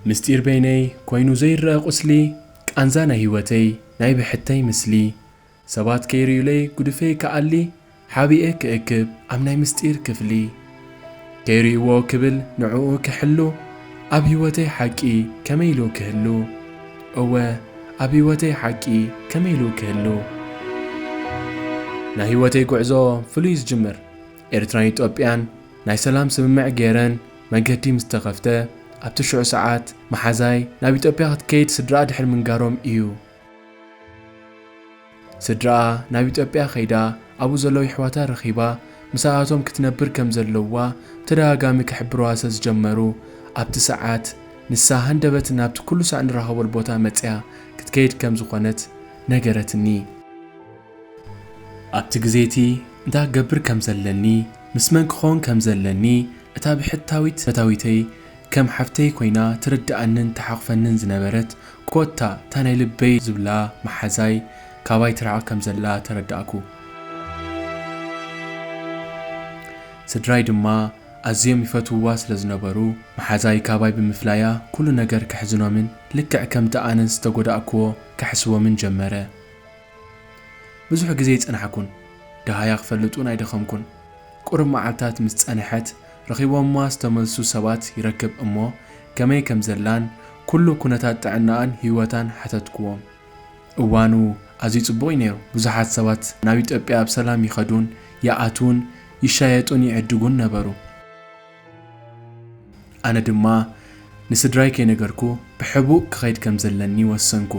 ምስጢር በይነይ ኮይኑ ዘይረኣ ቁስሊ ቃንዛ ናይ ህይወተይ ናይ ብሕተይ ምስሊ ሰባት ከይርእዩለይ ጉድፈይ ክኣሊ ሓቢኤ ክእክብ ኣብ ናይ ምስጢር ክፍሊ ከይርእይዎ ክብል ንዕኡ ክሕሉ ኣብ ህይወተይ ሓቂ ከመይ ኢሉ ክህሉ እወ ኣብ ህይወተይ ሓቂ ከመይ ኢሉ ክህሉ ናይ ህይወተይ ጉዕዞ ፍሉይ ዝጅምር ኤርትራን ኢትዮጵያን ናይ ሰላም ስምምዕ ገይረን መገዲ ምስ ተኸፍተ ኣብቲ ሽዑ ሰዓት መሓዛይ ናብ ኢትዮጵያ ክትከይድ ስድራኣ ድሕሪ ምንጋሮም ኢዩ። ስድራኣ ናብ ኢትዮጵያ ከይዳ ኣብኡ ዘለዉ የሕዋታ ረኺባ ምሳኣቶም ክትነብር ከም ዘለዋ ብተደጋጋሚ ክሕብሩዋ ስለ ዝጀመሩ ኣብቲ ሰዓት ንሳ ሃንደበት ናብቲ ኩሉ ሳዕ ንራኸበሉ ቦታ መጺኣ ክትከይድ ከም ዝኾነት ነገረትኒ። ኣብቲ ግዜ እቲ እንታይ ክገብር ከም ዘለኒ ምስ መን ክኸውን ከም ዘለኒ እታ ብሕታዊት ፈታዊተይ ከም ሓፍተይ ኮይና ትርድኣንን ትሓቑፈንን ዝነበረት ኮታ እታ ናይ ልበይ ዝብላ መሓዛይ ካባይ ትርሕቕ ከም ዘላ ተረዳእኩ። ስድራይ ድማ ኣዝዮም ይፈትውዋ ስለ ዝነበሩ፣ መሓዛይ ካባይ ብምፍላያ ኩሉ ነገር ከሕዝኖምን ልክዕ ከምቲ ኣነ ዝተጎዳእክዎ ከሕስቦምን ጀመረ። ብዙሕ ግዜ ኣይጸናሕኩን፣ ደሃያ ክፈልጥ'ውን ኣይደኸምኩን። ቁሩብ መዓልታት ምስ ጸንሐት፣ ረኺቦማ ዝተመልሱ ሰባት ይረክብ እሞ ከመይ ከም ዘላን ኩሉ ኩነታት ጥዕናኣን ህይወታን ሓተትኩዎም። እዋኑ ኣዝዩ ጽቡቕ እዩ ነይሩ፣ ብዙሓት ሰባት ናብ ኢትዮጵያ ብሰላም ይኸዱን ይኣትዉን፣ ይሻየጡን ይዕድጉን ነበሩ። ኣነ ድማ ንስድራይ ከይነገርኩ ብሕቡእ ክኸይድ ከም ዘለኒ ወሰንኩ።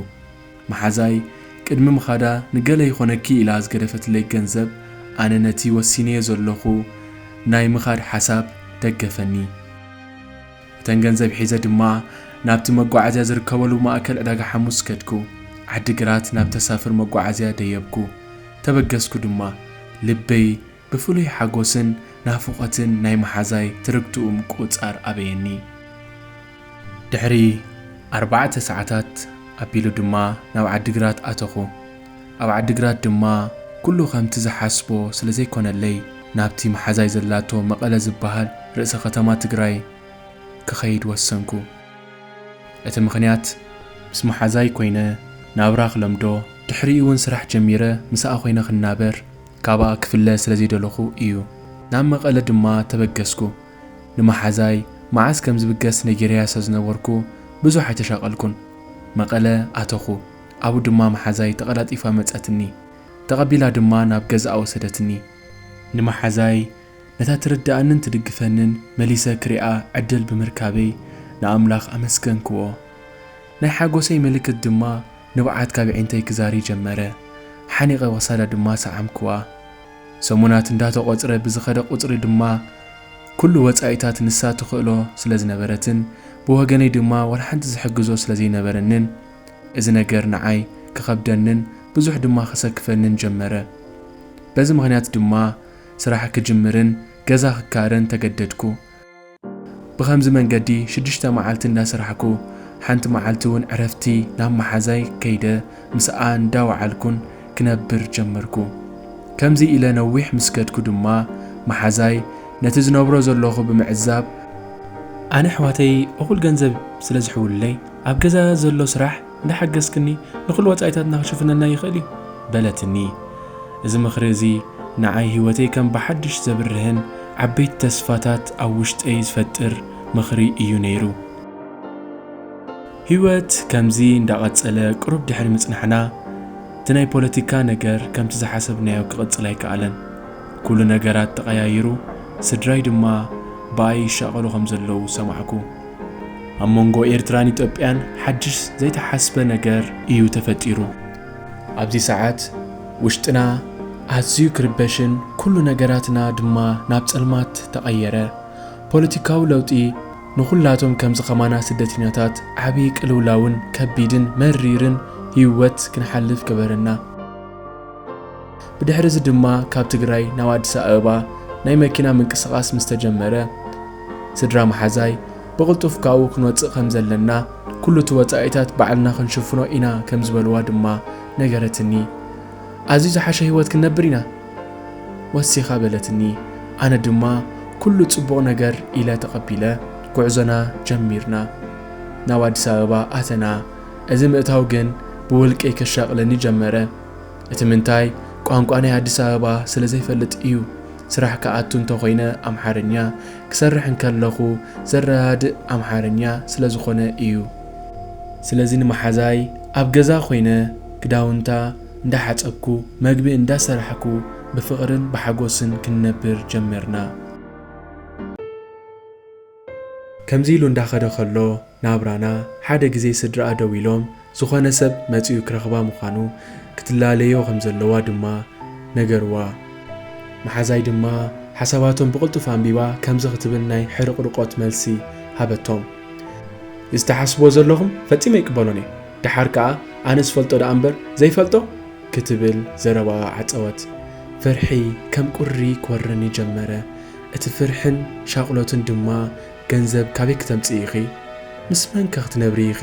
መሓዛይ ቅድሚ ምኻዳ ንገለ ይኾነኪ ኢላ ዝገደፈትለይ ገንዘብ ኣነ ነቲ ወሲነዮ ዘለኹ ናይ ምኻድ ሓሳብ ደገፈኒ። እተን ገንዘብ ሒዘ ድማ ናብቲ መጓዓዝያ ዝርከበሉ ማእከል ዕዳጋ ሓሙስ ከድኩ። ዓዲግራት ናብ ተሳፍር መጓዓዝያ ደየብኩ። ተበገስኩ ድማ። ልበይ ብፍሉይ ሓጎስን ናፍቖትን ናይ መሓዛይ ትርግትኡ ምቁጽጻር ኣበየኒ። ድሕሪ ኣርባዕተ ሰዓታት ኣቢሉ ድማ ናብ ዓዲግራት ኣተኹ። ኣብ ዓዲግራት ድማ ኩሉ ከምቲ ዝሓስቦ ስለ ዘይኮነለይ ናብቲ መሓዛይ ዘላቶ መቐለ ዝበሃል ርእሰ ከተማ ትግራይ ክኸይድ ወሰንኩ። እቲ ምኽንያት ምስ መሓዛይ ኮይነ ናብራ ክለምዶ ድሕሪኡ'ውን ስራሕ ጀሚረ ምስኣ ኮይነ ክናበር፣ ካብኣ ክፍለ ስለ ዘይደለኹ ኢዩ። ናብ መቐለ ድማ ተበገስኩ። ንመሓዛይ መዓዝ ከም ዝብገስ ነጊረያ ስለ ዝነበርኩ ብዙሕ ኣይተሻቐልኩን። መቐለ ኣተኹ። ኣብኡ ድማ መሓዛይ ተቐላጢፋ መጸትኒ። ተቐቢላ ድማ ናብ ገዛኣ ወሰደትኒ። ንመሓዛይ ነታ ትርድኣንን ትድግፈንን መሊሰ ክሪኣ ዕድል ብምርካበይ ንኣምላኽ ኣመስገንክዎ። ናይ ሓጎሰይ ምልክት ድማ ንብዓት ካብ የዒንተይ ክዛሪ ጀመረ። ሓኒቐ ክሳዳ ድማ ሰዓምክዋ። ሰሙናት እንዳተቖጽረ ብዝኸደ ቁጽሪ ድማ ኩሉ ወጻኢታት ንሳ ትኽእሎ ስለ ዝነበረትን ብወገነይ ድማ ዋላ ሓንቲ ዝሕግዞ ስለ ዘይነበረንን እዚ ነገር ንዓይ ክኸብደንን ብዙሕ ድማ ከሰክፈንን ጀመረ። በዚ ምኽንያት ድማ ስራሕ ክጅምርን ገዛ ክካረን ተገደድኩ። ብኸምዚ መንገዲ ሽዱሽተ መዓልቲ እንዳሰራሕኩ ሓንቲ መዓልቲ እውን ዕረፍቲ ናብ መሓዛይ ከይደ ምስኣ እንዳወዓልኩን ክነብር ጀመርኩ። ከምዚ ኢለ ነዊሕ ምስ ከድኩ ድማ መሓዛይ ነቲ ዝነብሮ ዘለኹ ብምዕዛብ፣ ኣነ ኣሕዋተይ እኹል ገንዘብ ስለዝሕውሉለይ ኣብ ገዛ ዘሎ ስራሕ እንዳ ሓገዝክኒ ንኹሉ ወጻኢታትና ክሽፍነልና ይኽእል እዩ በለትኒ። እዚ ምኽሪ እዚ ንዓይ ህይወተይ ከም ብሓድሽ ዘብርህን ዓበይቲ ተስፋታት ኣብ ውሽጠይ ዝፈጥር ምኽሪ እዩ ነይሩ። ህይወት ከምዚ እንዳ ቀጸለ ቅሩብ ድሕሪ ምጽናሕና እቲ ናይ ፖለቲካ ነገር ከምቲ ዝሓሰብናዮ ክቕጽል ኣይከኣለን። ኩሉ ነገራት ተቐያይሩ ስድራይ ድማ ብኣይ ይሻቐሉ ከም ዘለዉ ሰማዕኩ። ኣብ መንጎ ኤርትራን ኢትዮጵያን ሓድሽ ዘይተሓስበ ነገር እዩ ተፈጢሩ። ኣብዚ ሰዓት ውሽጥና ኣዝዩ ክርበሽን ኩሉ ነገራትና ድማ ናብ ጸልማት ተቐየረ። ፖለቲካዊ ለውጢ ንኹላቶም ከምዚ ከማና ስደተኛታት ዓቢ ቅልውላውን ከቢድን መሪርን ህይወት ክንሓልፍ ገበረና። ብድሕሪ እዚ ድማ ካብ ትግራይ ናብ ኣዲስ ኣበባ ናይ መኪና ምንቅስቓስ ምስ ተጀመረ ስድራ መሓዛይ ብቕልጡፍ ካብኡ ክንወፅእ ከም ዘለና ኩሉ እቲ ወፃኢታት ባዕልና ክንሽፍኖ ኢና ከም ዝበልዋ ድማ ነገረትኒ። ኣዝዩ ዝሓሸ ህይወት ክንነብር ኢና ወሲኻ በለትኒ። ኣነ ድማ ኩሉ ፅቡቕ ነገር ኢለ ተቐቢለ ጉዕዞና ጀሚርና ናብ ኣዲስ ኣበባ ኣተና። እዚ ምእታው ግን ብውልቀይ ከሻቕለኒ ጀመረ። እቲ ምንታይ ቋንቋ ናይ ኣዲስ ኣበባ ስለ ዘይፈልጥ እዩ። ስራሕ ክኣቱ እንተ ኾይነ ኣምሓርኛ፣ ክሰርሕ እንከለኹ ዘረዳድእ ኣምሓርኛ ስለ ዝኾነ እዩ። ስለዚ ንመሓዛይ ኣብ ገዛ ኮይነ ክዳውንታ እንዳ ሓጸብኩ መግቢ እንዳ ሰራሕኩ ብፍቕርን ብሓጎስን ክንነብር ጀመርና። ከምዚ ኢሉ እንዳኸደ ከሎ ናብራና ሓደ ግዜ ስድራኣ ደው ኢሎም ዝኾነ ሰብ መጺኡ ክረኽባ ምዃኑ ክትላለዮ ከም ዘለዋ ድማ ነገርዋ። መሓዛይ ድማ ሓሳባቶም ብቕልጡፍ ኣንቢባ ከምዚ ክትብል ናይ ሕርቕርቖት መልሲ ሃበቶም። እዚ ትሓስብዎ ዘለኹም ፈጺመ ኣይቅበሎን እየ፣ ደሓር ከኣ ኣነ ዝፈልጦ ደኣ እምበር ዘይፈልጦ ክትብል ዘረባኣ ዓጸወት። ፍርሒ ከም ቁሪ ክወርረኒ ጀመረ። እቲ ፍርሕን ሻቕሎትን ድማ ገንዘብ ካበይ ክተምጽኢ ኢኺ? ምስ መንከ ክትነብሪ ኢኺ?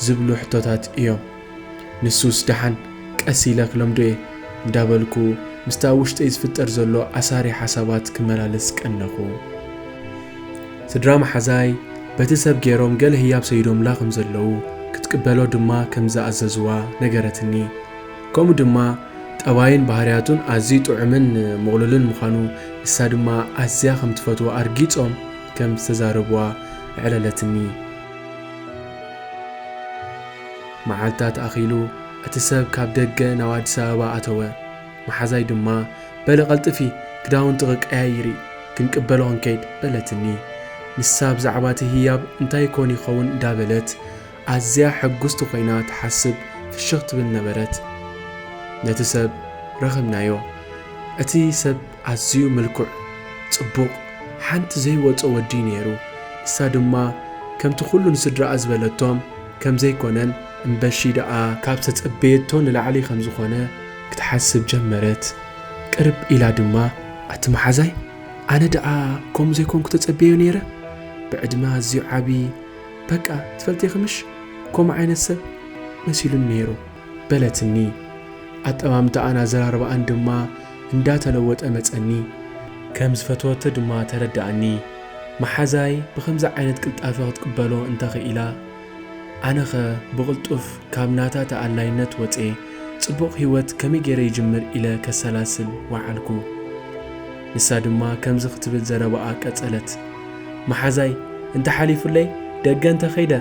ዝብሉ ሕቶታት እዮም። ንሱስ ደሓን ቀስ ኢለ ክለምዶ'የ እንዳበልኩ ምስቲ ኣብ ውሽጠይ ዝፍጠር ዘሎ ኣሳሪ ሓሳባት ክመላለስ ቀነኹ። ስድራ መሓዛይ በቲ ሰብ ጌሮም ገለ ህያብ ሰይዶምላ ከምዘለዉ፣ ክትቅበሎ ድማ ከምዝኣዘዙዋ ነገረትኒ። ከምኡ ድማ ጠባዩን ባህርያቱን ኣዝዩ ጥዑምን ምቕሉልን ምዃኑ፣ ንሳ ድማ ኣዝያ ከም ትፈትዎ ኣርጊጾም ከም ዝተዛረቡዋ ኣዕለለትኒ። መዓልታት ኣኺሉ እቲ ሰብ ካብ ደገ ናብ ኣዲስ ኣበባ ኣተወ። መሓዛይ ድማ በሊ ቀልጥፊ ክዳውንትኺ ቀያይሪ ክንቅበሎ ክንከይድ በለትኒ። ንሳ ብዛዕባ'ቲ ህያብ እንታይ ኮን ይኸውን እንዳበለት ኣዝያ ሕጉስቲ ኮይና ትሓስብ ፍሽኽ ትብል ነበረት። ነቲ ሰብ ረኽብናዮ። እቲ ሰብ ኣዝዩ ምልኩዕ፣ ጽቡቕ፣ ሓንቲ ዘይወጾ ወዲ'ዩ ነይሩ። ንሳ ድማ ከምቲ ኩሉ ንስድራኣ ዝበለቶም ከም ዘይኮነን እምበሺ ደኣ። ካብ ዝተጸበየቶ ንላዕሊ ከም ዝኾነ ክትሓስብ ጀመረት። ቅርብ ኢላ ድማ ኣቲ መሓዛይ ኣነ ደኣ ከምኡ ዘይኮንኩ ተጸብየዮ ነይረ? ብዕድመ ኣዝዩ ዓቢ፣ በቃ ትፈልጥኺ ምሽ ከምኡ ዓይነት ሰብ መሲሉኒ ነይሩ በለትኒ። ኣጠማምታኣን ኣዘራርባኣን ድማ እንዳተለወጠ መጸኒ። ከም ዝፈተወቶ ድማ ተረዳኣኒ። መሓዛይ ብኸምዚ ዓይነት ቅልጣፈ ክትቅበሎ እንተኽኢላ ኣነኸ ብቕልጡፍ ካብ ናታ ተኣላይነት ወጼ ጽቡቕ ሂወት ከመይ ገይረ ይጅምር ኢለ ከሰላስል ወዓልኩ። ንሳ ድማ ከምዚ ክትብል ዘረባኣ ቀጸለት። መሓዛይ እንተ ሓሊፉለይ ደገ እንተ ከይደ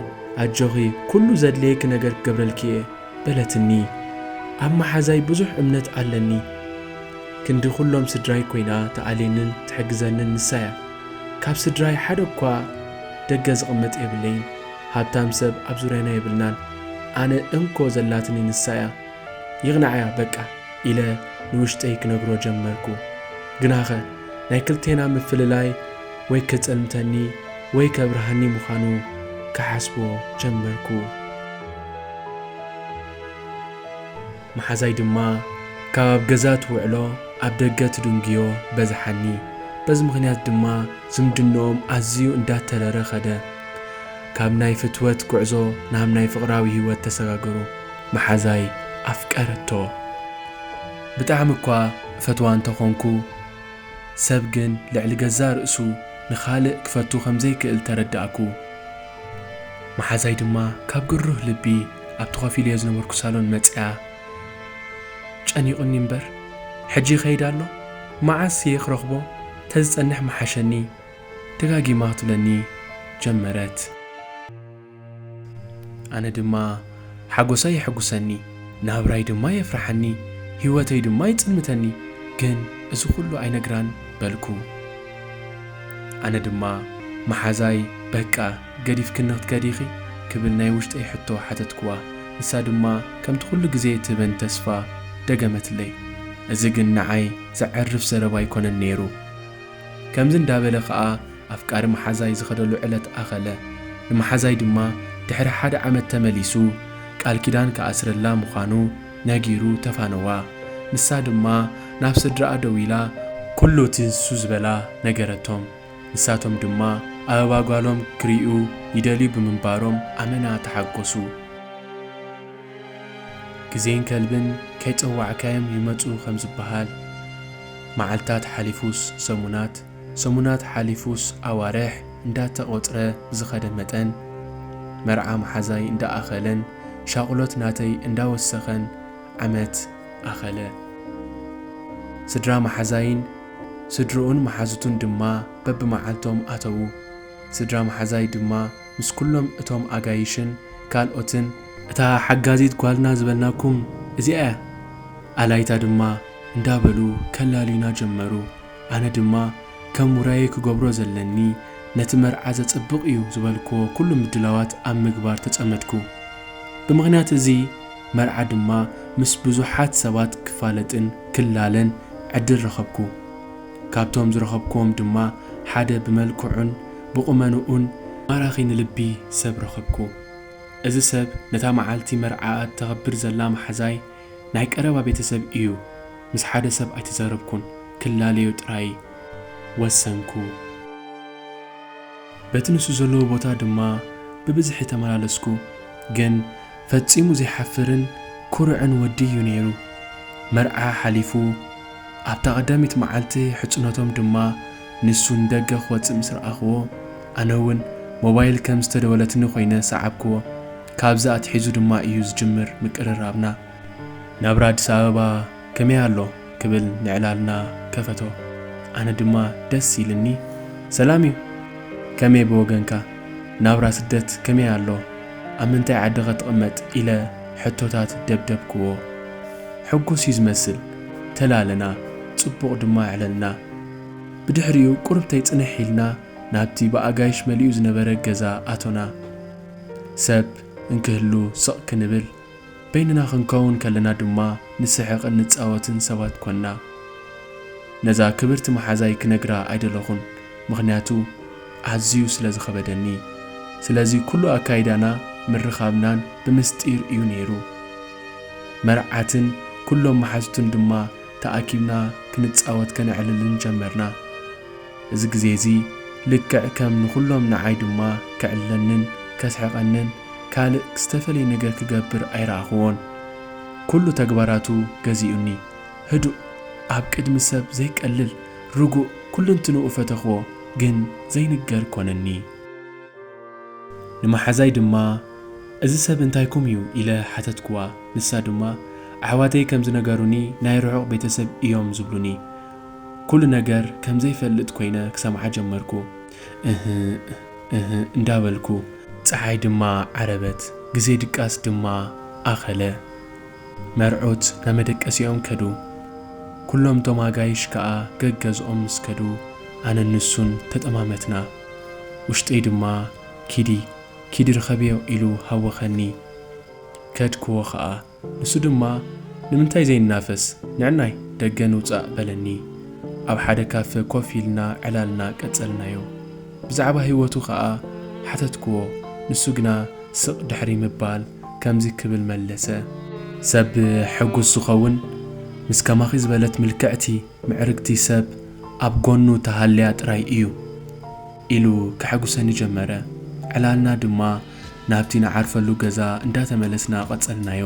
ኣጆኺ ኩሉ ዘድልየኪ ነገር ክገብረልኪ እየ በለትኒ። ኣብ መሓዛይ ብዙሕ እምነት ኣለኒ። ክንዲ ኩሎም ስድራይ ኮይና ትኣልየንን ትሕግዘንን ንሳ እያ። ካብ ስድራይ ሓደ እኳ ደገ ዝቕመጥ የብለይን። ሃብታም ሰብ ኣብ ዙርያና የብልናን። ኣነ እንኮ ዘላትኒ ንሳ እያ። ይቕናዕያ በቃ ኢለ ንውሽጠይ ክነግሮ ጀመርኩ። ግናኸ ናይ ክልቴና ምፍልላይ ወይ ከጸልምተኒ ወይ ከብርሃኒ ምዃኑ ክሓስቦ ጀመርኩ። መሓዛይ ድማ ካብ ኣብ ገዛ ትውዕሎ ኣብ ደገ ትድንጉዮ በዝሓኒ። በዚ ምኽንያት ድማ ዝምድንኦም ኣዝዩ እንዳተረረ ከደ። ካብ ናይ ፍትወት ጉዕዞ ናብ ናይ ፍቕራዊ ህይወት ተሰጋገሩ። መሓዛይ ኣፍቀረቶ ብጣዕሚ እኳ እፈትዋ እንተኾንኩ ሰብ ግን ልዕሊ ገዛእ ርእሱ ንኻልእ ክፈቱ ከምዘይክእል ተረዳእኩ መሓዛይ ድማ ካብ ግሩህ ልቢ ኣብቲ ኮፍ ኢለዮ ዝነበርኩ ሳሎን መጺኣ ጨኒቁኒ እምበር ሕጂ ይኸይድ ኣሎ መዓስ እየ ክረኽቦ ተዝጸንሕ ምሓሸኒ ደጋጊማ ክትብለኒ ጀመረት። ኣነ ድማ ሓጐሳይ የሐጕሰኒ፣ ናብራይ ድማ የፍርሓኒ፣ ህይወተይ ድማ ይጽንተኒ፣ ግን እዚ ዅሉ ኣይነግራን በልኩ። ኣነ ድማ መሓዛይ፣ በቃ ገዲፍክኒ ኽትከዲ ኢኺ? ክብል ናይ ውሽጠይ ሕቶ ሓተትክዋ። ንሳ ድማ ከምቲ ዅሉ ግዜ እትህበኒ ተስፋ ደገመትለይ። እዚ ግን ንዓይ ዘዐርፍ ዘረባ ኣይኰነን ነይሩ። ከምዚ እንዳበለ ከኣ ኣፍቃሪ መሓዛይ ዝኸደሉ ዕለት ኣኸለ። ንመሓዛይ ድማ ድሕሪ ሓደ ዓመት ተመሊሱ ቃል ኪዳን ክኣስረላ ምዃኑ ነጊሩ ተፋነዋ። ንሳ ድማ ናብ ስድራኣ ደዊላ ኩሉ እቲ ንሱ ዝበላ ነገረቶም። ንሳቶም ድማ ኣበባ ጓሎም ክርእዩ ይደልዩ ብምንባሮም ኣመና ተሓጎሱ። ግዜን ከልብን ከይጸዋዕካዮም ይመጹ ከም ዝበሃል፣ መዓልታት ሓሊፉስ ሰሙናት፣ ሰሙናት ሓሊፉስ ኣዋርሕ እንዳተቖጽረ ብዝኸደ መጠን፣ መርዓ መሓዛይ እንዳኣኸለን ሻቕሎት ናተይ እንዳወሰኸን ዓመት ኣኸለ። ስድራ መሓዛይን ስድርኡን መሓዙቱን ድማ በብመዓልቶም ኣተዉ። ስድራ መሓዛይ ድማ፣ ምስ ኩሎም እቶም ኣጋይሽን ካልኦትን። እታ ሓጋዚት ጓልና ዝበልናኩም እዚኣ እያ። ኣላይታ ድማ እንዳ በሉ ከላልዩና ጀመሩ። ኣነ ድማ ከም ውራየይ ክገብሮ ዘለኒ ነቲ መርዓ ዘጽብቕ እዩ ዝበልክዎ ኩሉ ምድላዋት ኣብ ምግባር ተጸመድኩ። ብምኽንያት እዚ መርዓ ድማ ምስ ብዙሓት ሰባት ክፋለጥን ክላለን ዕድል ረኸብኩ። ካብቶም ዝረኸብኩዎም ድማ ሓደ ብመልክዑን ብቑመንኡን ማራኺ ንልቢ ሰብ ረኸብኩ። እዚ ሰብ ነታ መዓልቲ መርዓኣ እተኸብር ዘላ መሓዛይ ናይ ቀረባ ቤተሰብ ኢዩ። ምስ ሓደ ሰብ ኣይተዛረብኩን፣ ክላለዮ ጥራይ ወሰንኩ። በቲ ንሱ ዘለዎ ቦታ ድማ ብብዝሒ ተመላለስኩ፣ ግን ፈጺሙ ዘይሓፍርን ኩሩዕን ወዲ እዩ ነይሩ። መርዓ ሓሊፉ ኣብታ ቀዳሚት መዓልቲ ሕጽኖቶም ድማ ንሱ ንደገ ክወጽእ ምስ ረኣኹዎ ኣነ እውን ሞባይል ከም ዝተደወለትኒ ኮይነ ሰዓብኩዎ። ካብዚ ኣትሒዙ ድማ እዩ ዝጅምር ምቅርራብና። ናብራ ኣዲስ ኣበባ ከመይ ኣሎ ክብል ንዕላልና ከፈቶ ኣነ ድማ ደስ ኢልኒ ሰላም እዩ ከመይ ብወገንካ ናብራ ስደት ከመይ ኣሎ ኣብ ምንታይ ዓዲኸ ትቕመጥ ኢለ ሕቶታት ደብደብክዎ ሕጉስ እዩ ዝመስል ተላለና ጽቡቕ ድማ ኣዕለልና ብድሕሪኡ ቁርብተይ ጽንሕ ኢልና ናብቲ ብኣጋይሽ መሊኡ ዝነበረ ገዛ ኣቶና ሰብ እንክህሉ ስቕ ክንብል በይንና ክንከውን ከለና ድማ ንስሕቕን ንጻወትን ሰባት ኰንና። ነዛ ክብርቲ መሓዛይ ክነግራ ኣይደለኹን፣ ምኽንያቱ ኣዝዩ ስለ ዝኸበደኒ። ስለዚ ኵሉ ኣካይዳና፣ ምርኻብናን ብምስጢር እዩ ነይሩ። መርዓትን ኵሎም መሓዙትን ድማ ተኣኪብና ክንጻወት ከነዕልልን ጀመርና። እዚ ግዜ እዚ ልክዕ ከም ንኹሎም ንዓይ ድማ ከዕልለንን ከስሕቐንን ካልእ ዝተፈልየ ነገር ክገብር ኣይረኣኹዎን። ኩሉ ተግባራቱ ገዚኡኒ። ህዱእ፣ ኣብ ቅድሚ ሰብ ዘይቀልል፣ ርጉእ፣ ኩልንትንኡ ፈተኽዎ ግን ዘይንገር ኮነኒ። ንመሓዛይ ድማ እዚ ሰብ እንታይኩም እዩ ኢለ ሓተትክዋ። ንሳ ድማ ኣሕዋተይ ከም ዝነገሩኒ ናይ ርሑቕ ቤተሰብ እዮም ዝብሉኒ። ኩሉ ነገር ከም ዘይፈልጥ ኮይነ ክሰምዓ ጀመርኩ። እህ እህ እንዳበልኩ። ጸሓይ ድማ ዓረበት። ግዜ ድቃስ ድማ ኣኸለ። መርዑት ናብ መደቀሲኦም ከዱ። ኩሎም እቶም ኣጋይሽ ከኣ ገገዝኦም ምስ ከዱ ኣነን ንሱን ተጠማመትና። ውሽጠይ ድማ ኪዲ ኪዲ ርኸብዮ ኢሉ ሃወኸኒ። ከድክዎ ከኣ። ንሱ ድማ ንምንታይ ዘይናፈስ ንዕናይ ደገ ንውጻእ በለኒ። ኣብ ሓደ ካፈ ኮፍ ኢልና ዕላልና ቀጸልናዮ። ብዛዕባ ህይወቱ ከኣ ሓተትክዎ ንሱ ግና ስቕ ድሕሪ ምባል ከምዚ ክብል መለሰ። ሰብ ሕጉስ ዝኸውን ምስ ከማኺ ዝበለት ምልክዕቲ ምዕርግቲ ሰብ ኣብ ጎኑ ተሃልያ ጥራይ እዩ። ኢሉ ከሐጉሰኒ ጀመረ። ዕላልና ድማ ናብቲ ንዓርፈሉ ገዛ እንዳተመለስና ቀጸልናዮ።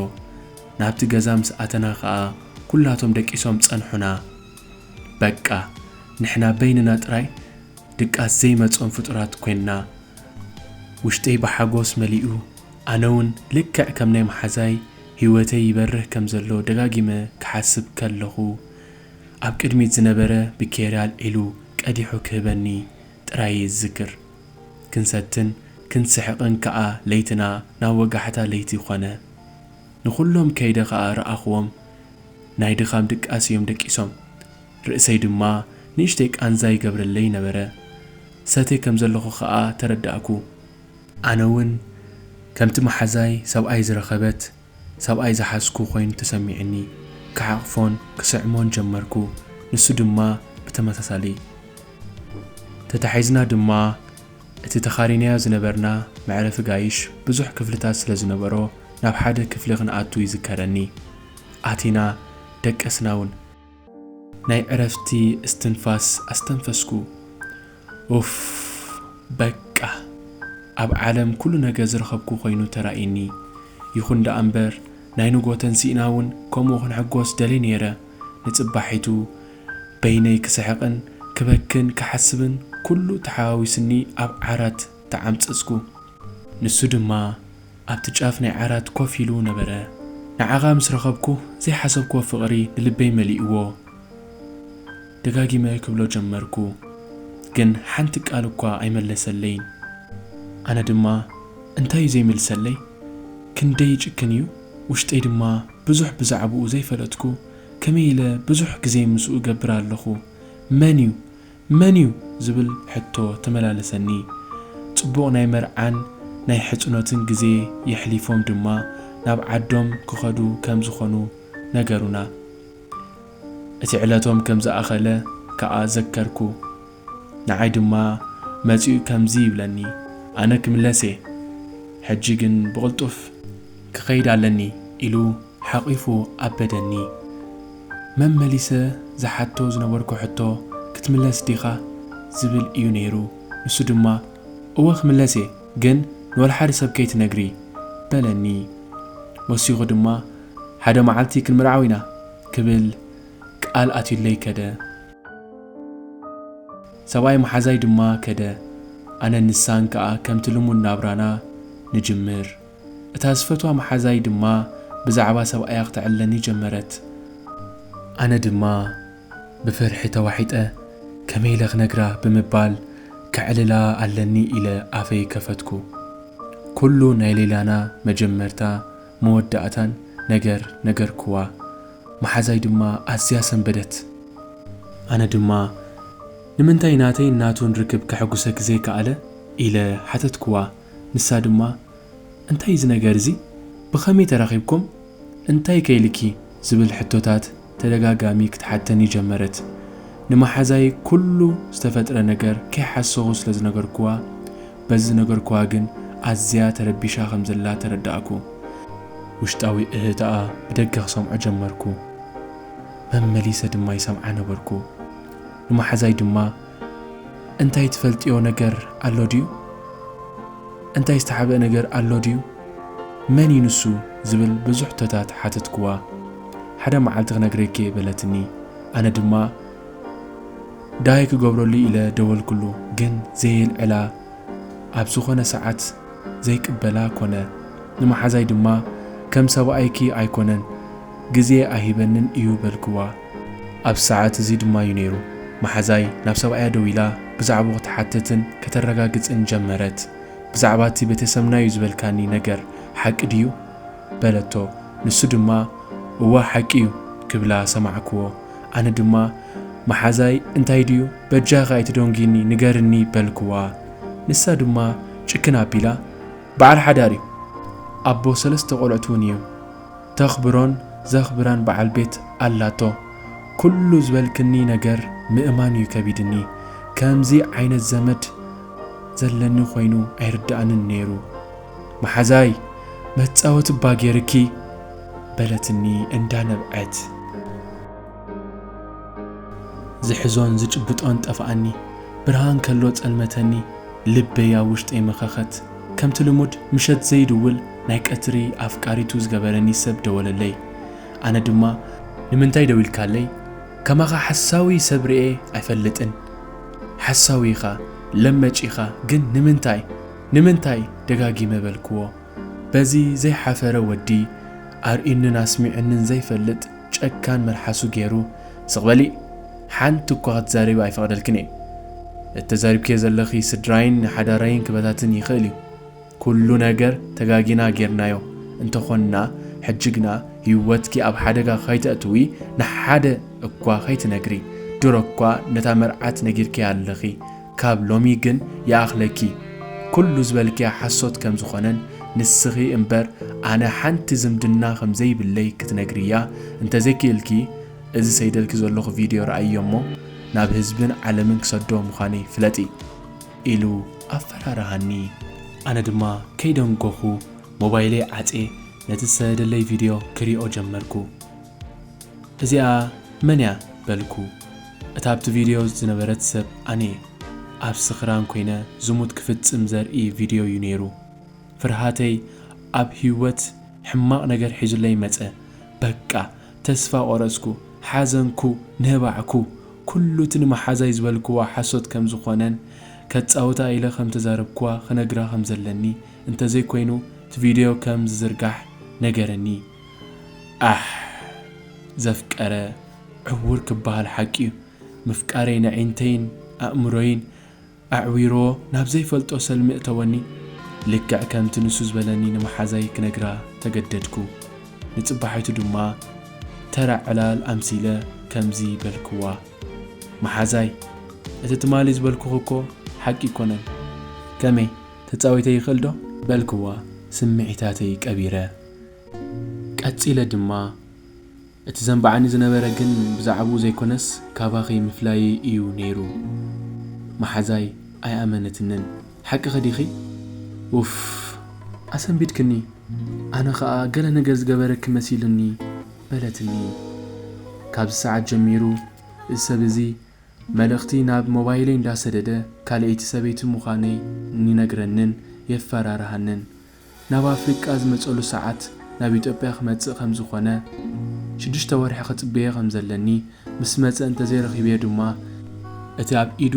ናብቲ ገዛ ምስ ኣተና ከኣ ኩላቶም ደቂሶም ጸንሑና። በቃ ንሕና በይንና ጥራይ ድቃስ ዘይመጾም ፍጡራት ኮይንና። ውሽጠይ ብሓጎስ መሊኡ። ኣነውን ልክዕ ከም ናይ መሓዛይ ህይወተይ ይበርህ ከም ዘሎ ደጋጊመ ክሓስብ ከለኹ፣ ኣብ ቅድሚት ዝነበረ ብኬርያል ኢሉ ቀዲሑ ክህበኒ ጥራይ እየ ዝዝክር። ክንሰትን ክንስሕቕን ከኣ ለይትና ናብ ወጋሕታ ለይቲ ኮነ። ንኹሎም ከይደ ከኣ ረኣኹዎም ናይ ድኻም ድቃስ እዮም ደቂሶም። ርእሰይ ድማ ንእሽተይ ቃንዛ ይገብረለይ ነበረ። ሰቴ ከም ዘለኹ ከኣ ተረዳእኩ። ኣነ'ውን ከምቲ መሓዛይ ሰብኣይ ዝረኸበት ሰብኣይ ዝሓዝኩ ኮይኑ ተሰሚዑኒ፣ ክሓቕፎን ክስዕሞን ጀመርኩ፣ ንሱ ድማ ብተመሳሳሊ። ተታሒዝና ድማ እቲ ተኻሪናዮ ዝነበርና መዕረፊ ጋይሽ ብዙሕ ክፍልታት ስለ ዝነበሮ ናብ ሓደ ክፍሊ ክንኣቱ ይዝከረኒ፣ ኣቲና ደቀስናውን። ናይ ዕረፍቲ እስትንፋስ ኣስተንፈስኩ ኡፍ በቃ ኣብ ዓለም ኩሉ ነገር ዝረኸብኩ ኮይኑ ተራእዩኒ ይኹን ደኣ እምበር ናይ ንግሆ ተንሲእና ውን ከምኡ ክንሕጎስ ደልየ ኔረ ንጽባሒቱ በይነይ ክስሕቕን ክበክን ክሓስብን ኩሉ ተሓዋዊስኒ ኣብ ዓራት ተዓምጸጽኩ ንሱ ድማ ኣብቲ ጫፍ ናይ ዓራት ኮፍ ኢሉ ነበረ። ንዓኻ ምስ ረኸብኩ ዘይሓሰብክዎ ፍቕሪ ንልበይ መሊእዎ። ደጋጊመ ክብሎ ጀመርኩ። ግን ሓንቲ ቃል እኳ ኣይመለሰለይን። ኣነ ድማ እንታይ እዩ ዘይምልሰለይ? ክንደይ ይጭክን እዩ? ውሽጠይ ድማ ብዙሕ ብዛዕብኡ ዘይፈለጥኩ ከመይ ኢለ ብዙሕ ግዜይ ምስኡ እገብር ኣለኹ? መን እዩ? መን እዩ ዝብል ሕቶ ተመላለሰኒ። ጽቡቕ ናይ መርዓን ናይ ሕጽኖትን ግዜ የሕሊፎም ድማ ናብ ዓዶም ክኸዱ ከም ዝኾኑ ነገሩና። እቲ ዕለቶም ከም ዝኣኸለ ከኣ ዘከርኩ። ንዓይ ድማ መጺኡ ከምዚ ይብለኒ ኣነ ክምለስ እየ ሕጂ ግን ብቕልጡፍ! ክኸይድ ኣለኒ ኢሉ ሓቚፉ ኣበደኒ። መመሊሰ ዝሓቶ ዝነበርኩ ሕቶ ክትምለስ ዲኻ? ዝብል እዩ ነይሩ። ንሱ ድማ እወ ክምለስ እየ ግን ንወልሓደ ሰብ ከይትነግሪ። በለኒ። ወሲኹ ድማ ሓደ መዓልቲ ክንምርዓው ኢና ክብል ቃል ኣትዩለይ ከደ። ሰብኣይ መሓዛይ ድማ ከደ። ኣነን ንሳን ከኣ ከምቲ ልሙድ ናብራና ንጅምር። እታ ዝፈትዋ መሓዛይ ድማ ብዛዕባ ሰብኣያ ኽተዕልለኒ ጀመረት። ኣነ ድማ ብፍርሒ ተዋሒጠ፣ ከመይ ኢለ ኽነግራ ብምባል ከዕልላ ኣለኒ ኢለ ኣፈይ ከፈትኩ። ኵሉ ናይ ሌላና መጀመርታ መወዳእታን ነገር ነገርክዋ፣ መሓዛይ ድማ ኣዝያ ሰንበደት። ኣነ ድማ ንምንታይ ናተይን ናቱን ርክብ ከሐጕሰኪ ዘይከኣለ? ኢለ ሓተትክዋ። ንሳ ድማ እንታይ እዚ ነገር እዚ ብኸመይ ተራኺብኩም እንታይ ከ ኢልኪ ዝብል ሕቶታት ተደጋጋሚ ክትሓተኒ ጀመረት ንመሓዛይ ኩሉ ዝተፈጥረ ነገር ከይሓሰኹ ስለ ዝነገርኩዋ በዚ ዝነገርኩዋ ግን ኣዝያ ተረቢሻ ከም ዘላ ተረዳእኩ ውሽጣዊ እህህታኣ ብደገ ክሰምዖ ጀመርኩ መመሊሰ ድማ ይሰምዓ ነበርኩ ንመሓዛይ ድማ እንታይ ትፈልጥዮ ነገር ኣሎ ድዩ? እንታይ ዝተሓብእ ነገር ኣሎ ድዩ? መን እዩ ንሱ? ዝብል ብዙሕ ሕቶታት ሓተትክዋ። ሓደ መዓልቲ ክነግረኪ'የ በለትኒ። ኣነ ድማ ዳይ ክገብረሉ ኢለ ደወልክሉ፣ ግን ዘየልዕላ ኣብ ዝኾነ ሰዓት ዘይቅበላ ኮነ። ንመሓዛይ ድማ ከም ሰብኣይኪ ኣይኮነን ግዜ ኣይህበንን እዩ በልክዋ። ኣብዚ ሰዓት እዚ ድማ እዩ ነይሩ መሓዛይ ናብ ሰብኣያ ደዊላ ብዛዕብኡ ክትሓትትን ከተረጋግጽን ጀመረት። ብዛዕባ እቲ ቤተሰብና'ዩ ዝበልካኒ ነገር ሓቂ ድዩ? በለቶ። ንሱ ድማ እወ ሓቂ'ዩ ክብላ ሰማዕክዎ። ኣነ ድማ መሓዛይ እንታይ ድዩ በጃኺ ኣይትደንጒኒ ንገርኒ በልክዋ። ንሳ ድማ ጭክን ኣቢላ በዓል ሓዳር'ዩ ኣቦ ሰለስተ ቆልዑት'ውን እዩ። ተኽብሮን ዘኽብራን በዓል ቤት ኣላቶ ኩሉ ዝበልክኒ ነገር ምእማን እዩ ከቢድኒ ከምዚ ዓይነት ዘመድ ዘለኒ ኮይኑ ኣይርደኣንን ነይሩ መሓዛይ መፃወቲ እባ ገይርኪ በለትኒ እንዳነብዐት ዝሕዞን ዝጭብጦን ጠፍኣኒ ብርሃን ከሎ ፀልመተኒ ልበይ ኣብ ውሽጠይ መኸኸት። ከምቲ ልሙድ ምሸት ዘይድውል ናይ ቀትሪ ኣፍቃሪቱ ዝገበረኒ ሰብ ደወለለይ ኣነ ድማ ንምንታይ ደዊልካለይ ከማኻ ሓሳዊ ሰብ ሪኤ ኣይፈልጥን ሓሳዊ ኢኻ ለመጭ ኢኻ ግን ንምንታይ ንምንታይ ደጋጊመ በልክዎ በዚ ዘይሓፈረ ወዲ ኣርእዩንን ኣስሚዑንን ዘይፈልጥ ጨካን መልሓሱ ጌሩ ስቅ በሊ ሓንቲ እኳ ክትዛረቢ ኣይፈቅደልክን እየ እቲ ተዛሪብክዮ ዘለኺ ስድራይን ሓዳረይን ክበታትን ይኽእል እዩ ኩሉ ነገር ተጋጊና ጌርናዮ እንተ ኾንና ሕጂ ግና ሂወትኪ ኣብ ሓደጋ ከይተእትዊ ንሓደ እኳ ከይትነግሪ ድሮ እኳ ነታ መርዓት ነጊርክያ ኣለኺ ካብ ሎሚ ግን ይኣኽለኪ ኩሉ ዝበልክያ ሓሶት ከም ዝኾነን ንስኺ እምበር ኣነ ሓንቲ ዝምድና ከም ዘይብለይ ክትነግርያ እንተ ዘይክእልኪ እዚ ሰይደልኪ ዘለኹ ቪድዮ ርኣይዮ እሞ ናብ ህዝብን ዓለምን ክሰዶ ምዃነይ ፍለጢ ኢሉ ኣፈራርሃኒ ኣነ ድማ ከይደንጎኹ ሞባይለይ ዓጽየ ነቲ ዝሰደደለይ ቪድዮ ክሪኦ ጀመርኩ። እዚኣ መን እያ በልኩ እታ ኣብቲ ቪድዮ ዝነበረት ሰብ ኣነ ኣብ ስኽራን ኮይነ ዝሙት ክፍጽም ዘርኢ ቪድዮ እዩ ነይሩ ፍርሃተይ ኣብ ሂወት ሕማቕ ነገር ሒዙለይ መጸ በቃ ተስፋ ቆረጽኩ ሓዘንኩ ነባዕኩ ኩሉ እቲ ንመሓዛይ ዝበልክዋ ሓሶት ከም ዝኾነን ከጻውታ ኢለ ከም ተዛረብክዋ ክነግራ ከም ዘለኒ እንተዘይኮይኑ እቲ ቪድዮ ከም ዝዝርጋሕ ነገረኒ ኣሕ ዘፍቀረ ዕዉር ክበሃል ሓቂ'ዩ ምፍቃረይ ነዒንተይን ኣእምሮይን ኣዕዊርዎ ናብ ዘይፈልጦ ሰልሚ እእተወኒ ልክዕ ከምቲ ንሱ ዝበለኒ ንመሓዛይ ክነግራ ተገደድኩ ንጽባሒቱ ድማ ተራ ዕላል ኣምሲለ ከምዚ በልክዋ መሓዛይ እቲ ትማሊ ዝበልኩኺ እኮ ሓቂ ኣይኮነን ከመይ ተጻዊተ ይኽእል ዶ በልክዋ ስምዒታተይ ቀቢረ። ቀጺለ ድማ፣ እቲ ዘንብዓኒ ዝነበረ ግን ብዛዕብኡ ዘይኰነስ ካባኺ ምፍላየይ ኢዩ ነይሩ። መሓዛይ ኣይኣመነትንን። ሓቅኺ ዲኺ? ኡፍ! ኣሰንቢድክኒ፣ ኣነ ኸኣ ገለ ነገር ዝገበረኪ መሲሉኒ፣ በለትኒ። ካብዚ ሰዓት ጀሚሩ፣ እዚ ሰብ እዚ መልእኽቲ ናብ ሞባይለይ እንዳሰደደ ካልኣይቲ ሰበይቲ ምዃነይ ይነግረንን የፈራርሃንን። ናብ ኣፍሪቃ ዝመጸሉ ሰዓት ናብ ኢትዮጵያ ክመጽእ ከም ዝኾነ ሽዱሽተ ወርሒ ክጽበዮ ከም ዘለኒ ምስ መጸ እንተዘይ ረኺበዮ ድማ እቲ ኣብ ኢዱ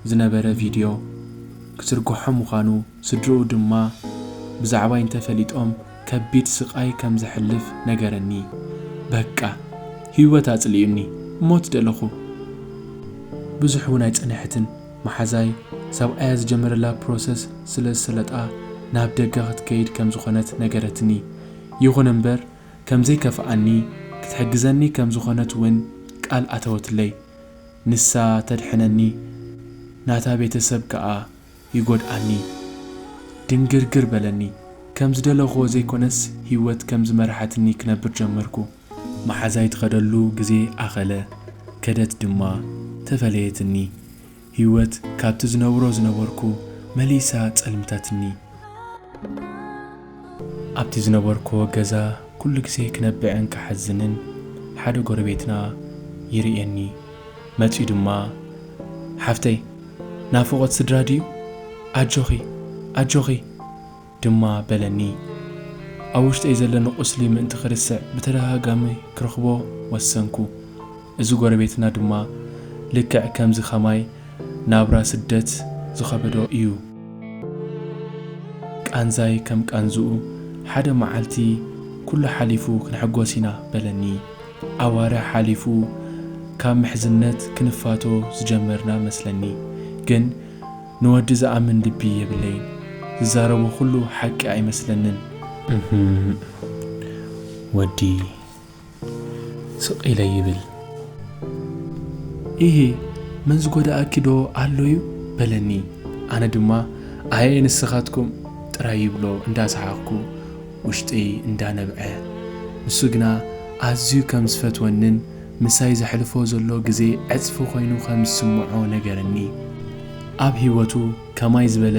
ዝነበረ ቪድዮ ክትርግሖ ምዃኑ ስድርኡ ድማ ብዛዕባይ እንተ ፈሊጦም ከቢድ ስቃይ ከም ዘሕልፍ ነገረኒ በቃ ሂወት ኣጽሊኡኒ ሞት ደለኹ ብዙሕ ውን ኣይጸንሐትን መሓዛይ ሰብኣያ ዝጀመረላ ፕሮሰስ ስለ ዝሰለጣ ናብ ደገ ክትከይድ ከም ዝኾነት ነገረትኒ። ይኹን እምበር ከም ዘይከፍኣኒ ክትሕግዘኒ ከም ዝኾነት ውን ቃል ኣተወትለይ። ንሳ ተድሕነኒ ናታ ቤተሰብ ከኣ ይጎድኣኒ። ድንግርግር በለኒ። ከም ዝደለኹዎ ዘይኮነስ ሂወት ከም ዝመርሓትኒ ክነብር ጀመርኩ። መሓዛይ ትኸደሉ ግዜ ኣኸለ፣ ከደት ድማ ተፈለየትኒ። ህይወት ካብቲ ዝነብሮ ዝነበርኩ መሊሳ ጸልምታትኒ። ኣብቲ ዝነበርኩዎ ገዛ ኩሉ ግዜ ክነብዕን ክሓዝንን ሓደ ጎረቤትና ይርእየኒ። መጺኡ ድማ ሓፍተይ ናፍቖት ስድራ ድዩ? ኣጆኺ! ኣጆኺ! ድማ በለኒ። ኣብ ውሽጠይ ዘለኒ ቁስሊ ምእንቲ ክርስዕ ብተደጋጋሚ ክረኽቦ ወሰንኩ። እዚ ጎረቤትና ድማ ልክዕ ከምዚ ከማይ ናብራ ስደት ዝኸበዶ ኢዩ። ቃንዛይ ከም ቃንዝኡ ሓደ መዓልቲ ኩሉ ሓሊፉ ክንሕጎስ ኢና በለኒ። ኣዋርሕ ሓሊፉ ካብ ምሕዝነት ክንፋቶ ዝጀመርና መስለኒ ግን። ንወዲ ዝኣምን ልቢ የብለይን ዝዛረቦ ኩሉ ሓቂ ኣይመስለንን። እህም ወዲ ስቅ ኢለ ይብል። ኢሂ መን ዝጎደኣኪ ዶ ኣሎ ዩ በለኒ ኣነ ድማ ኣየ ንስካትኩም ጥራይ ይብሎ እንዳ ሰሓቅኩ ውሽጢይ እንዳ ነብዐ ንሱ ግና ኣዝዩ ከም ዝፈትወንን ምሳይ ዘሕልፎ ዘሎ ግዜ ዕጽፊ ኮይኑ ከም ዝስምዖ ነገረኒ። ኣብ ህይወቱ ከማይ ዝበለ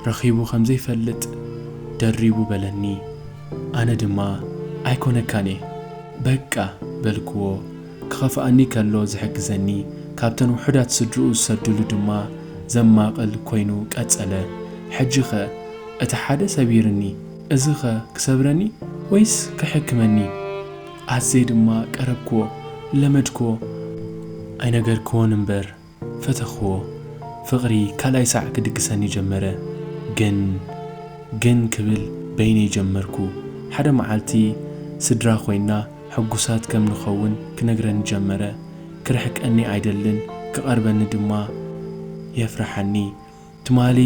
ረኺቡ ከም ዘይፈልጥ ደሪቡ በለኒ። ኣነ ድማ ኣይኮነካን'የ በቃ በልክዎ። ክኸፍኣኒ ከሎ ዝሕግዘኒ ካብተን ውሑዳት ስድርኡ ዝሰድሉ ድማ ዘማቕል ኮይኑ ቀጸለ። ሕጂ'ኸ እቲ ሓደ ሰቢርኒ እዚ'ኸ ክሰብረኒ ወይስ ከሕክመኒ? ኣዜይ ድማ ቀረብክዎ ለመድክዎ ኣይነገርክዎን እምበር ፈተኽዎ ፍቕሪ ካልኣይ ሳዕ ክድግሰኒ ጀመረ ግን ግን ክብል በይነይ ጀመርኩ ሓደ መዓልቲ ስድራ ኮይና ሕጉሳት ከም ንኸውን ክነግረኒ ጀመረ ክርሕቀኒ ኣይደልን ክቐርበኒ ድማ የፍርሓኒ ትማሊ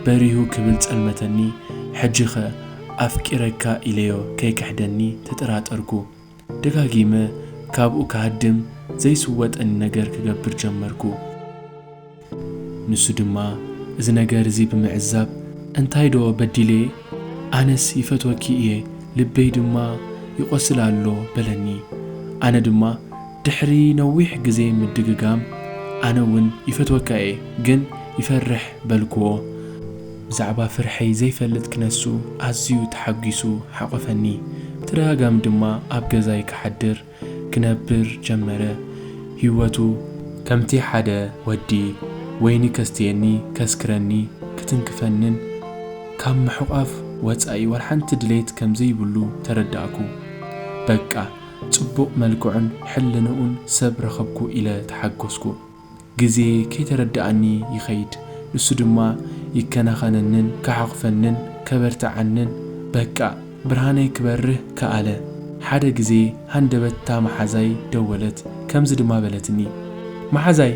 በሪሁ ክብል ጸልመተኒ ሕጂኸ ኣፍቂረካ ኢለዮ ከይክሕደኒ ተጠራጠርኩ ደጋጊመ ካብኡ ክሃድም ዘይስወጠኒ ነገር ክገብር ጀመርኩ ንሱ ድማ እዚ ነገር እዚ ብምዕዛብ እንታይ ዶ በዲለየ ኣነስ ይፈትወኪ እየ ልበይ ድማ ይቆስል ኣሎ በለኒ ኣነ ድማ ድሕሪ ነዊሕ ግዜ ምድግጋም ኣነ ውን ይፈትወካ እየ ግን ይፈርሕ በልክዎ ብዛዕባ ፍርሐይ ዘይፈልጥ ክነሱ ኣዝዩ ተሓጊሱ ሓቆፈኒ ብተደጋጋሚ ድማ ኣብ ገዛይ ክሓድር ክነብር ጀመረ ሂወቱ ከምቲ ሓደ ወዲ ወይኒ ከስትየኒ ከስክረኒ ክትንክፈንን ካብ ምሕቋፍ ወጻኢ ወላሓንቲ ድሌት ከምዘይብሉ ተረዳእኩ በቃ ጽቡቕ መልክዑን ሕልንኡን ሰብ ረኸብኩ ኢለ ተሓጎስኩ። ግዜ ከይተረድኣኒ ይኸይድ፣ ንሱ ድማ ይከናኸነንን ክሓቑፈንን ከበርትዓንን በቃ ብርሃነይ ክበርህ ከኣለ። ሓደ ግዜ ሃንደበት'ታ መሓዛይ ደወለት፣ ከምዚ ድማ በለትኒ። መሓዛይ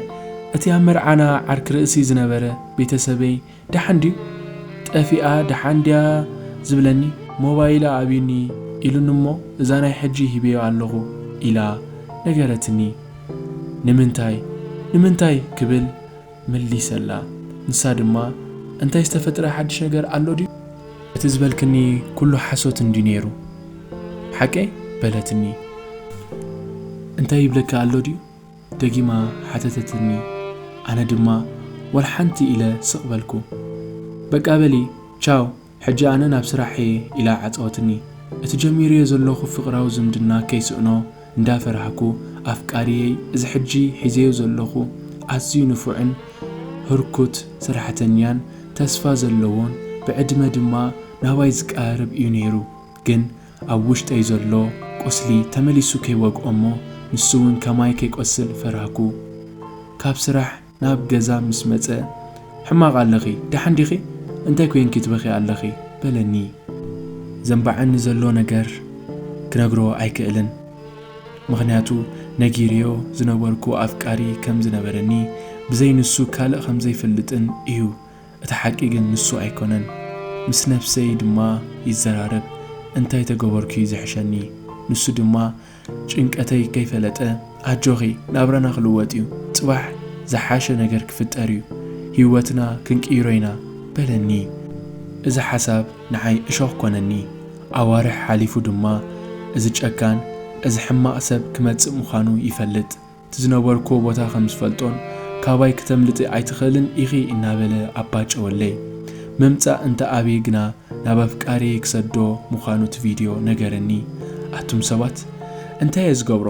እቲ ኣብ መርዓና ዓርኪ ርእሲ ዝነበረ ቤተሰበይ ደሓን ድዩ ጠፊኣ ደሓን ድያ ዝብለኒ ሞባይላ ኣብዩኒ ኢሉኒ እሞ እዛ ናይ ሕጂ ሂበዮ ኣለኹ ኢላ ነገረትኒ ንምንታይ ንምንታይ ክብል መሊሰላ ንሳ ድማ እንታይ ዝተፈጥረ ሓድሽ ነገር ኣሎ ድዩ እቲ ዝበልክኒ ኩሉ ሓሶት እንድዩ ኔሩ ሓቀይ በለትኒ እንታይ ይብለኪ ኣሎ ድዩ? ደጊማ ሓተተትኒ ኣነ ድማ ዋላ ሓንቲ ኢለ ስቅ በልኩ በቃ በሊ ቻው ሕጂ ኣነ ናብ ስራሕየ ኢላ ዓጸወትኒ እቲ ጀሚርዮ ዘለኩ ፍቅራዊ ዝምድና ከይስእኖ እንዳ ፈራህኩ ኣፍቃርየይ እዚ ሕጂ ሒዘዮ ዘለኩ ኣዝዩ ንፉዕን ህርኩት ሰራሕተኛን ተስፋ ዘለዎን ብዕድመ ድማ ናባይ ዝቃራረብ እዩ ነይሩ ግን ኣብ ውሽጠይ ዘሎ ቁስሊ ተመሊሱ ከይወግኦ'ሞ ንሱ'ውን ከማይ ከይቆስል ፈራህኩ። ካብ ስራሕ ናብ ገዛ ምስ መጸ ሕማቕ ኣለኺ ደሓን ዲኺ? እንታይ ኮይንኪ ትበኽዪ ኣለኺ? በለኒ። ዘንባዓኒ ዘሎ ነገር ክነግሮ ኣይክእልን። ምኽንያቱ ነጊሬዮ ዝነበርኩ ኣፍቃሪ ከም ዝነበረኒ ብዘይ ንሱ ካልእ ከም ዘይፈልጥን እዩ እቲ ሓቂ ግን ንሱ ኣይኮነን ምስ ነብሰይ ድማ ይዘራረብ እንታይ ተገበርኩ እዩ ዝሕሸኒ ንሱ ድማ ጭንቀተይ ከይፈለጠ ኣጆኺ ናብራና ክልወጥ እዩ ጽባሕ ዝሓሸ ነገር ክፍጠር እዩ ሂወትና ክንቅይሮ ኢና በለኒ እዚ ሓሳብ ንዓይ እሾኽ ኮነኒ ኣዋርሕ ሓሊፉ ድማ እዚ ጨካን እዚ ሕማቕ ሰብ ክመጽእ ምዃኑ ይፈልጥ እቲ ዝነበርክዎ ቦታ ከም ዝፈልጦን ካባይ ክተምልጢ ኣይትኽእልን ኢኺ እናበለ ኣባጨወለይ። ምምጻእ እንተ ኣብየ ግና ናብ ኣፍቃሪየይ ክሰዶ ምዃኑ እቲ ቪድዮ ነገረኒ። ኣቱም ሰባት እንታይ እየ ዝገብሮ?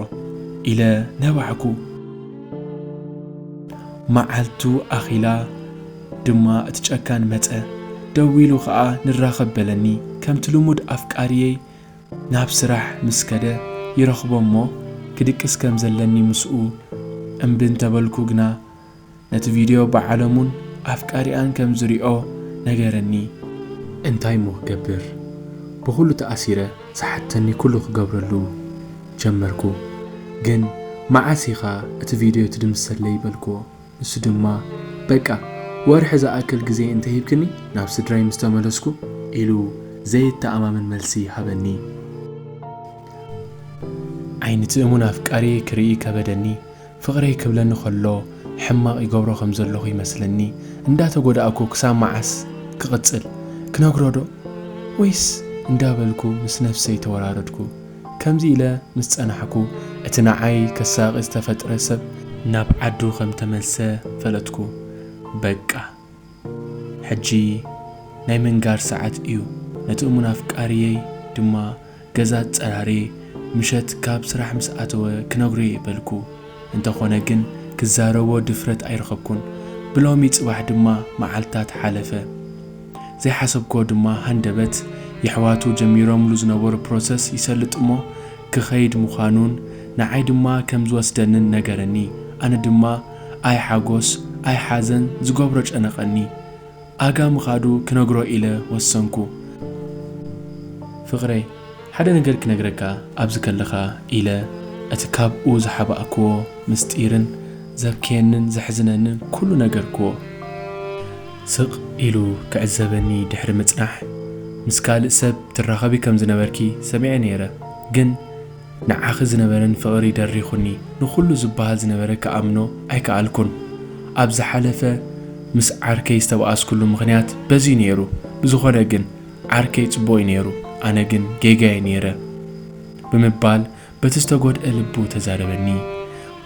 ኢለ ነባዕኩ። መዓልቱ ኣኺላ ድማ እቲ ጨካን መጸ። ደዊሉ ከኣ ንራኸብ በለኒ። ከምቲ ልሙድ ኣፍቃሪየይ ናብ ስራሕ ምስ ከደ ይረኽቦ እሞ ክድቅስ ከም ዘለኒ ምስኡ እምቢ እንተበልኩ ግና ነቲ ቪድዮ ብዓለሙን ኣፍቃሪኣን ከም ዝሪኦ ነገረኒ። እንታይ እሞ ክገብር ብኹሉ ተኣሲረ ዝሓተኒ ኩሉ ክገብረሉ ጀመርኩ ግን መዓስ ኢኻ እቲ ቪድዮ ትድምስሰለይ በልክዎ። ንሱ ድማ በቃ ወርሒ ዝኣክል ግዜ እንተሂብክኒ ናብ ስድራይ ምስ ተመለስኩ ኢሉ ዘየተኣማምን መልሲ ሃበኒ። ዓይኒ'ቲ እሙን ኣፍቃሪየይ ክርኢ ከበደኒ። ፍቕረይ ክብለኒ ከሎ ሕማቕ ይገብሮ ከም ዘለኹ ይመስለኒ። እንዳተጎዳእኩ ክሳብ መዓስ ክቕጽል? ክነግሮ'ዶ? ወይስ? እንዳበልኩ ምስ ነፍሰይ ተወራረድኩ። ከምዚ ኢለ ምስ ጸናሕኩ፣ እቲ ንዓይ ከሳቒ ዝተፈጥረ ሰብ። ናብ ዓዱ ከም ተመልሰ ፈለጥኩ። በቃ! ሕጂ ናይ ምንጋር ሰዓት እዩ። ነቲ እሙን ኣፍቃሪየይ ድማ ገዛ ኣጸራርየ ምሸት ካብ ስራሕ ምስ ኣተወ ክነግሮ'የ በልኩ። እንተኾነ ግን ክዛረቦ ድፍረት ኣይረኸብኩን። ብሎሚ ጽባሕ ድማ መዓልታት ሓለፈ። ዘይሓሰብክዎ ድማ ሃንደበት የሕዋቱ ጀሚሮምሉ ዝነበሩ ፕሮሰስ ይሰልጥ'ሞ ክኸይድ ምዃኑን ንዓይ ድማ ከም ዝወስደንን ነገረኒ ኣነ ድማ ኣይ ሓጎስ ኣይ ሓዘን ዝገብሮ ጨነቐኒ ኣጋ ምኻዱ ክነግሮ ኢለ ወሰንኩ ፍቕረይ ሓደ ነገር ክነግረካ ኣብዚ ከለኻ ኢለ እቲ ካብኡ ዝሓባእክዎ ምስጢርን ዘብክየንን ዘሕዝነንን ኩሉ ነገርክዎ። ስቕ ኢሉ ክዕዘበኒ ድሕሪ ምጽናሕ፣ ምስ ካልእ ሰብ ትራኸቢ ከም ዝነበርኪ ሰሚዐ ነይረ፣ ግን ንዓኺ ዝነበረኒ ፍቕሪ ደሪኹኒ፣ ንኹሉ ዝበሃል ዝነበረ ክኣምኖ ኣይከኣልኩን። ኣብ ዝሓለፈ ምስ ዓርከይ ዝተበኣስኩሉ ምኽንያት በዚ'ዩ ነይሩ፣ ብዝኾነ ግን ዓርከይ ጽቡቕ'ዩ ነይሩ፣ ኣነ ግን ጌጋ'የ ነይረ ብምባል በቲ ዝተጎድኣ ልቡ ተዛረበኒ።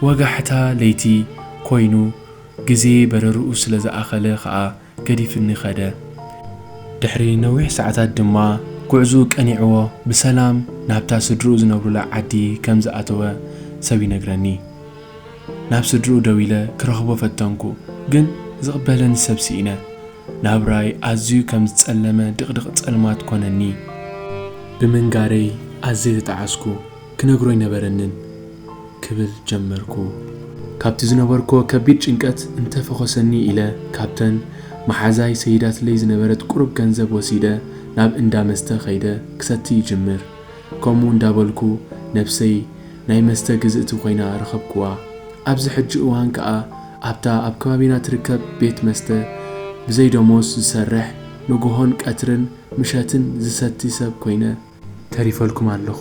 ወጋሕታ ለይቲ ኮይኑ፣ ግዜ በረርኡ ስለ ዝኣኸለ ከኣ ገዲፍኒ ከደ። ድሕሪ ነዊሕ ሰዓታት ድማ ጉዕዝኡ ቀኒዕዎ ብሰላም ናብታ ስድርኡ ዝነብሩላ ዓዲ ከም ዝኣተወ ሰብ ይነግረኒ። ናብ ስድርኡ ደዊለ ክረኽቦ ፈተንኩ፣ ግን ዝቕበለኒ ሰብ ስኢነ። ናብራይ ኣዝዩ ከም ዝጸለመ ድቕድቕ ጸልማት ኮነኒ። ብምንጋረይ ኣዝየ ተጣዓስኩ። ክነግሮ ኣይነበረንን ክብል ጀመርኩ። ካብቲ ዝነበርኩዎ ከቢድ ጭንቀት እንተ ፈኾሰኒ ኢለ ካብተን መሓዛይ ሰይዳትለይ ዝነበረት ቁሩብ ገንዘብ ወሲደ ናብ እንዳ መስተ ከይደ ክሰቲ ይጅምር። ከምኡ እንዳበልኩ ነብሰይ ናይ መስተ ግዝእቲ ኮይና ረኸብኩዋ። ኣብዚ ሕጂ እዋን ከኣ ኣብታ ኣብ ከባቢና ትርከብ ቤት መስተ ብዘይ ደሞዝ ዝሰርሕ ንጉሆን ቀትርን ምሸትን ዝሰቲ ሰብ ኮይነ ተሪፈልኩም ኣለኹ።